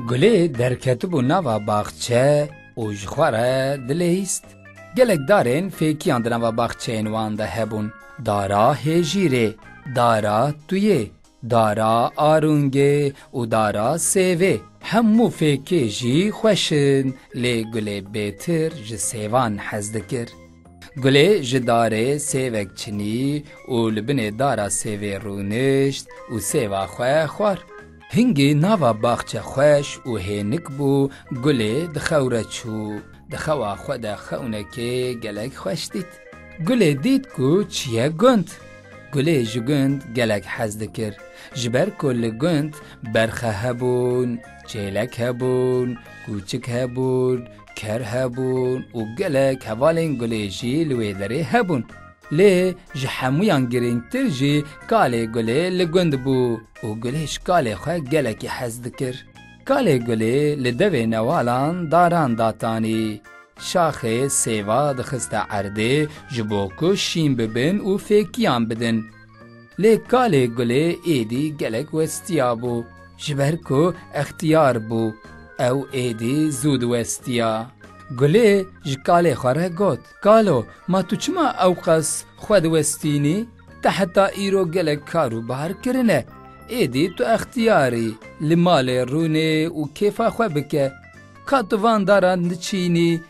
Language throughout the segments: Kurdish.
Gulê derketibû nava baxçe û ji xwe re dilehîst. Gelek darên fêkiyan di nava baxçeyên wan de hebûn. Dara Hêjîrê, Dara Tuyê, Dara arûngê û dara sêvê hemû fêkê jî xweş in lê gulê bêtir ji sêvan hez dikir. Gulê ji darê sêvek çinî û li binê dara sêvê rûnişt û sêva xwe xwar. Hingî nava baxçe xweş û hênik bû gulê di xew re çû. Di xewa xwe de xewnekê gelek xweş dît. Gulê dît ku çiye gund. Gulê ji gund gelek hez dikir, ji ber ku li gund berxe hebûn, çêlek hebûn, kûçik hebûn, ker hebûn û gelek hevalên gulê jî li wê derê hebûn. Lê ji hemûyan girîngtir jî kalê gulê li gund bû û gulê ji kalê xwe gelekî hez dikir. Kalê gulê li devê newalan daran datanî. Şaxê sêva dixiste erdê ji bo ku şîn bibin û fêkiyan bidin. Lê kalê gulê êdî gelek westiya bû, ji ber ku extiyar bû, ew êdî zû diwestiya. Gulê ji kalê xwe re got. Kalo, ma tu çima ewqas xwe diwestînî? Te heta îro gelek kar û bar kirine. Êdî tu extiyar î, li malê rûnê û kêfa xwe bike. Ka tu van daran diçînî,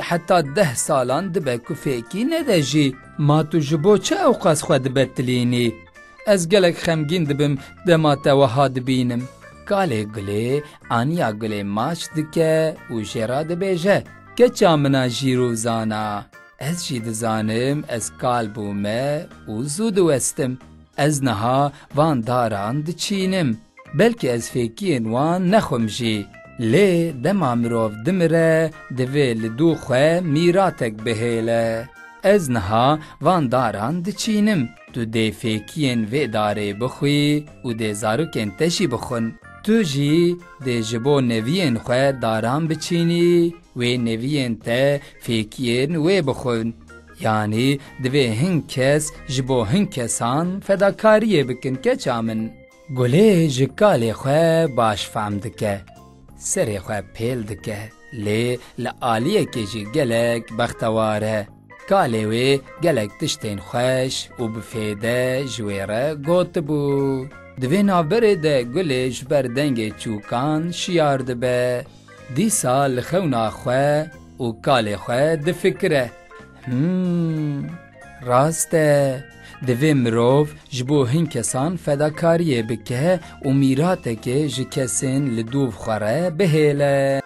heta deh salan dibe ku fêkî nede jî. Ma tu ji bo çi ewqas xwe dibetilînî? Ez gelek xemgîn dibim dema te wiha dibînim. Kalê gulê aniya gulê maç dike û jê re dibêje. Keça min a jîr û zana, ez jî dizanim ez kal bûme û zû diwestim. Ez niha van daran diçînim. Belkî ez fêkiyên wan nexwim jî. Lê dema mirov dimire divê li dû xwe mîratek bihêle. Ez niha van daran diçînim. Tu dê fêkiyên vê darê bixwî û dê zarokên te jî bixwin. Tu jî dê ji bo neviyên xwe daran biçînî, wê neviyên te fêkiyên wê bixwin. Yanî divê hin kes ji bo hin kesan fedakariyê bikin keça min. Gulê ji kalê xwe baş fehm dike, serê xwe pêl dike, lê li aliyekê jî gelek bextewar e. Kalê wê gelek tiştên xweş û bi fêde ji wê re gotibû. Di vê navberê de Gulê ji ber dengê çûkan şiyar dibe. Dîsa li xewna xwe û kalê xwe difikire, Him! Rast e, divê mirov ji bo hin kesan fedakariyê bike û mîratekê ji kesên li dûv xwe re bihêle.